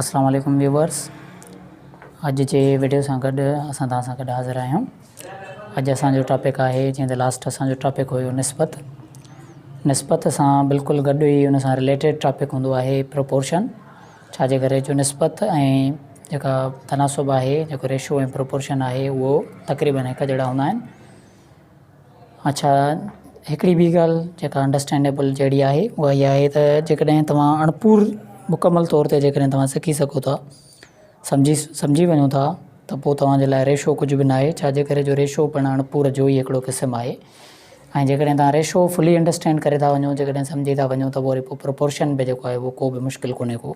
اسلام عليڪم ويوورس اڄ جي ويڊيو سان گڏ اسان توهان سان گڏ حاضر آهيون اڄ اسان جو ٽاپڪ آهي جنهن تي لاسٽ اسان جو ٽاپڪ هيو نسبت نسبت سان بلڪل گڏ ئي ان سان رليٽيڊ ٽاپڪ هوندو آهي پروپورشن ڇا جي ڪري جو نسبت ۽ جيڪا تناسب آهي جيڪو ريشو ۽ پروپورشن آهي اهو تقريبن هڪ جهڙا هوندا آهن اڇا هڪڙي ٻي ڳالهه جيڪا انڊرسٽينڊيبل جهڙي آهي اها اها آهي ته جيڪڏهن توهان اڻپور مڪمل طور تي جيڪڏهن توهان سکي سگهو ٿا سمجهي سمجهي وڃو ٿا ته پوء توهان جي لاء ريشو ڪجهه به ناهي ڇاجي ڪري جو ريشو پڻ اڻپور جو ئي هڪڙو قسم آهي ۽ جيڪڏهن توهان ريشو فلي انڊرسٽينڊ ڪري ٿا وڃو جيڪڏهن سمجهي ٿا وڃو ته پوء وري پوء پروپورشن به جيڪو آهي اهو ڪو به مشڪل ڪونهي ڪو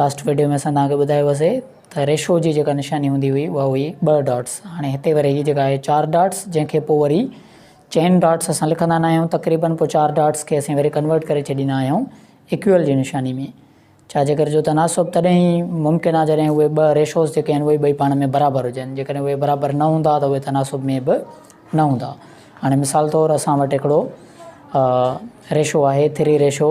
لاسٽ ويڊيو ۾ اسان توهان کي ٻڌايو هوسي ته ريشو جي جيڪا نشاني هوندي هئي اها هئي ٻه ڊاٽس هاڻي هتي وري هي جيڪا آهي چار ڊاٽس جنهن کي پوء وري چين ڊاٽس اسان لکندا نه آهيون تقريبن پوء چار ڊاٽس کي اسين وري ڪنورٽ ڪري ڇڏيندا آهيون اڪيول جي نشاني ۾ ڇا جيڪر جو تناسب تڏهن ئي ممڪن آهي جڏهن اهي ٻه ريشوز جيڪي آهن اهي ٻئي پاڻ ۾ برابر هجن جيڪڏهن اهي برابر نه هوندا ته اهي تناسب ۾ به نه هوندا هاڻي مثال طور اسان وٽ هڪڙو ريشو آهي ٿري ريشو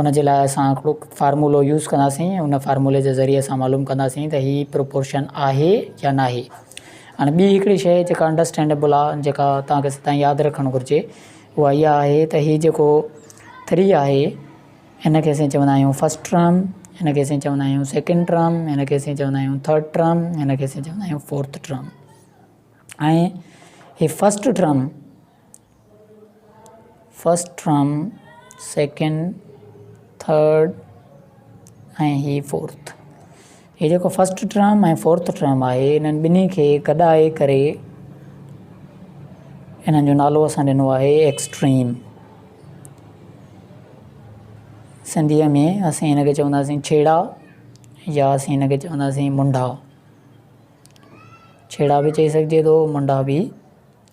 ان جي لاء اسان هڪڙو فارمولو يوز ڪنداسين ان فارمولي جي ذريعي اسان معلوم ڪنداسين ته هي پروپورشن آهي يا ناهي هاڻي ٻي هڪڙي شي جيڪا انڊرسٽينڊيبل آهي جيڪا توهان کي سدائين ياد رکڻ گهرجي اها اها آهي ته هي جيڪو ٿري آهي هن کي اسين چوندا آهيون فرسٽ ٽرم هن کي اسين چوندا آهيون سيڪنڊ ٽرم هن کي اسين چوندا آهيون ٿرڊ ٽرم هن کي اسين چوندا آهيون فورٿ ٽرم ۽ هي first term first term, second, third ۽ هي فورٿ. هي جيڪو فرسٽ ٽرم ۽ فورٿ ٽرم آهي انهن ٻنهي کي گڏائي ڪري انهن جو نالو اسان ڏنو آهي ايڪسٽريم. سنڌيء ۾ اسين هن کي چونداسين ڇيڙا يا اسين هن کي چونداسين منڊا. ڇيڙا به چئي سگهجي ٿو منڊا به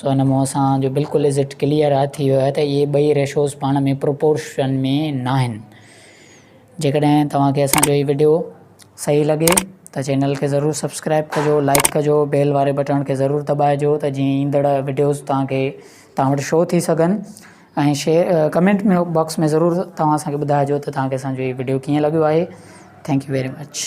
سو هن مون سان جو بلڪل از اٽ ڪليئر آهي ٿي ويو آهي ته اهي ٻئي ريشوز پاڻ ۾ پروپورشن ۾ ناهن. جيڪڏهن توهان کي اسان جو هي وڊيو صحيح لڳي ته چينل کي ضرور سبسڪرائب ڪجو لائڪ ڪجو بيل واري بٽڻ کي ضرور دٻائجو ته جيئن ايندڙ وڊيوز توهان کي توهان وٽ شو ٿي سگهن ۽ شيئر ڪمينٽ ۾ باڪس ۾ ضرور توهان اسان کي ٻڌائجو ته توهان کي اسان جو هي وڊيو ڪيئن لڳيو آهي ٿينڪ يو ويري مچ.